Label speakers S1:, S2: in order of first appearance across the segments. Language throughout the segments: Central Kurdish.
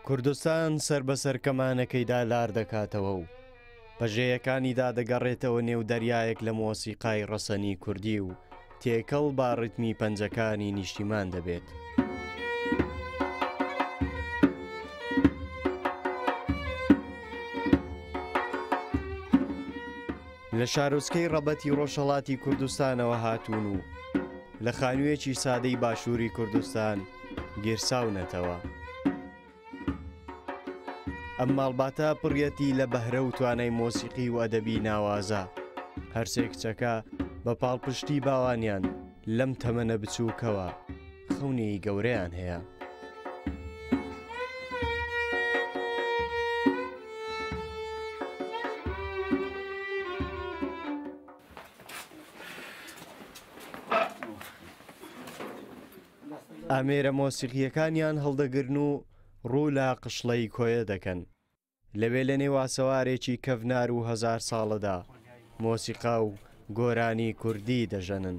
S1: کوردستان سەر بە سەر کەمانەکەیدا لار دەکاتەوە و پەژێیەکانیدا دەگەڕێتەوە نێو دەریایەک لە مۆسیقای ڕەسەنی کوردی و تێکەڵ با ڕتمی پەنجەکانی نیشتیمان دەبێت. لە شارۆچکەی ڕەبەتی ڕۆژهڵاتی کوردستانەوە هاتوون و لە خانوویەکی سادەی باشووری کوردستان گیرساونەتەوە. ئەم ماڵباتە پڕیەتی لە بەهرە و توانای مۆسیقی و ئەدەبی ناوازە هەرسێ کچەکە بە پاڵپشتی باوانیان لەم تەمەنە بچووکەوە خەونی گەورەیان هەیە. ئامێرە مۆسیقییەکانیان هەڵدەگرن و ڕوو لە قشڵەی کۆیە دەکەن. لەوێ لە نێو ئاسەوارێکی کەڤنار و هەزار ساڵەدا، مۆسیقا و گۆرانی کوردی دەژەنن.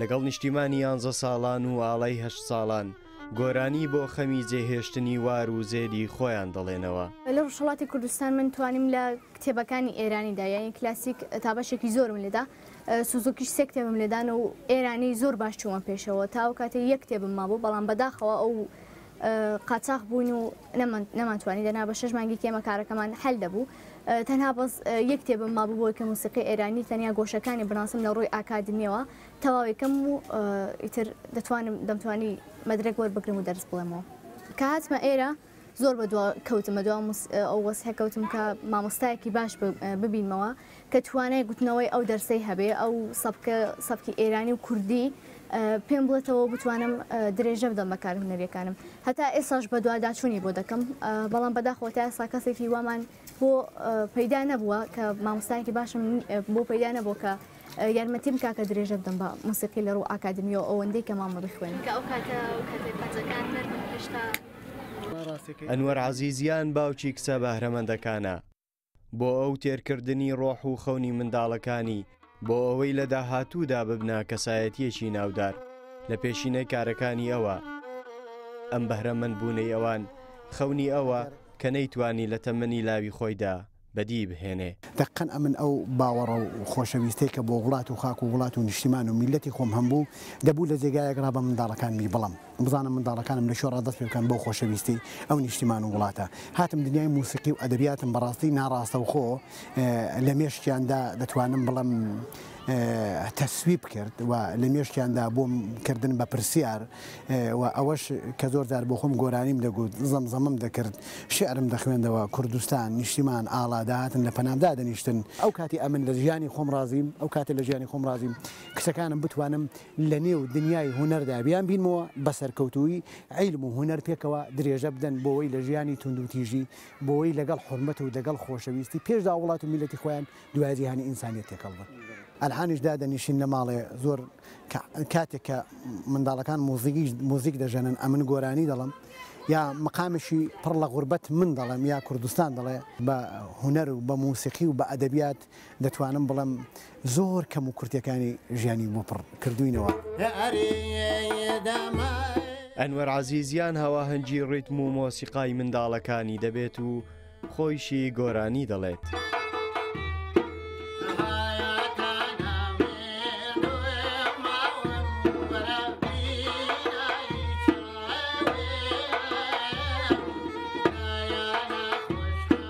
S1: لەگەڵ نیشتیمانی یانزە ساڵان و ئاڵای هەشت ساڵان، گۆرانی بۆ خەمی جێهێشتنی وار و زێدی خۆیان دەڵێنەوە. لە ڕۆژهەڵاتی
S2: کوردستان من توانیم لە کتێبەکانی ئێرانیدا یانی کلاسیک تا بەشێکی زۆرم لێدا، سوزوکیش سێ کتێبم لێدان و ئێرانی زۆر باش چوومە پێشەوە تا ئەو کاتەی یەک کتێبم مابوو بەڵام بەداخەوە ئەو قاچاخ بووین و نەمانتوانی دەنا بە شەش مانگێکی ئێمە کارەکەمان حەل دەبوو. تەنها بەس یەک کتێبم مابوو بۆی کە موسیقی ئێرانی تەنیا گۆشەکانی بناسم لە ڕووی ئاکادمیەوە تەواوێکم و ئیتر دەتوانم دەمتوانی مەدرک وەربگرم و دەرس بڵێمەوە کە هاتمە ئێرە زۆر بە دو کەوتمە دو ئەو وەسحە کەوتم کە مامۆستایەکی باش ببینمەوە کە توانای گوتنەوەی ئەو دەرسەی هەبێ ئەو سەبکە سەبکی ئێرانی و کوردی پێم بڵێتەوە بتوانم درێژە بدەم بە کار هونەریەکانم هەتا ئێساش بەدواداچوونی بۆ دەکەم بەڵام بەداخۆ تا ئێستا کەسێکی وامان بۆ پەیدا نەبووە کە مامۆستایکی باشم بۆ پەیدا نەبوو کە یارمەتیم کاکە درێژە بدەم بە موسیقی لە ڕوو ئاکادمیەوە ئەوەندەی کە مامە بخوێن
S1: ئەنوەر عزیزیان باوکی کچە بەهرەمەندەکانە. بۆ ئەو تێرکردنی ڕۆح و خەونی منداڵەکانی، بۆ ئەوەی لە داهاتوودا ببنە کەسایەتییەکی ناودار، لە پێشینەی کارەکانی ئەوە. ئەم بەهرەمەندبوونەی ئەوان، خەونی ئەوە، کە نەیتوانی لە تەمەنی لاوی خۆیدا بەدیی بهێنێ. دەققەن ئەمن ئەو
S3: باوەڕە و خۆشەویستەی کە بۆ وڵات و خاک و وڵات و نیشتیمان و میللەتی خۆم هەمبوو، دەبوو لە جێگایەک ڕا بە منداڵەکانمی بڵەم. بزانم منداڵەکانم لە کوێ ڕادەست پێ بکەن بەو خۆشەویستیی ئەو نیشتیمان و وڵاتە هاتم دنیای موسیقی و ئەدەبیاتم بەڕاستی ناڕاستەوخۆ لە مێشکیاندا دەتوانم بڵێم تەسویب کرد و لە مێشکیاندا بۆم کردن بە پرسیار و ئەوەش کە زۆر جار بۆ خۆم گۆرانیم دەگوت زەمزەمم دەکرد شعرم دەخوێندەوە کوردستان نیشتیمان ئاڵا دەهاتن لە پەنامدا دەنیشتن ئەو کاتی ئەمن لە ژیانی خۆم ڕازیم ئەو کاتێ لە ژیانی خۆم ڕازیم کچەکانم بتوانم لە نێو دنیای هونەردا بیان بینمەوە بە سەرکەوتوویی عیلم و هونەر پێکەوە درێژە بدەن بۆوەی لە ژیانی توندوتیژی بۆوەی لەگەڵ حورمەت و دەگەڵ خۆشەویستی پێشدا وڵات و میلەتی خۆیان دوای جیهانی ئینسانیەت تێکەڵ بن ئەلحانیش دادەنیشین لە ماڵێ زۆر کاتێک کە منداڵەکان موزیکی موزیک دەژەنن ئەمن گۆرانی دەڵم یا مقامێکی پڕ لە غوربەت من دەڵێم یا کوردستان دەڵێ بە هونەر و بە موسیقی و بە ئەدەبیات دەتوانم بڵێم زۆر کەم و کورتەکانی ژیانی بۆ پڕ کردووینەوە.
S1: ئەنوەر عەزیزیان هەواهەنگی ڕیتم و مۆسیقای منداڵەکانی دەبێت و خۆیشی گۆرانی دەڵێت.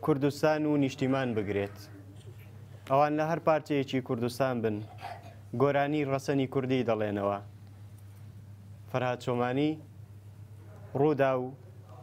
S1: کوردستان و نیشتیمان بگرێت ئەوان لە هەر پارچەیەکی کوردستان بن گۆرانی ڕەسەنی کوردی دەڵێنەوە فەرهاد چۆمانی ڕوودا و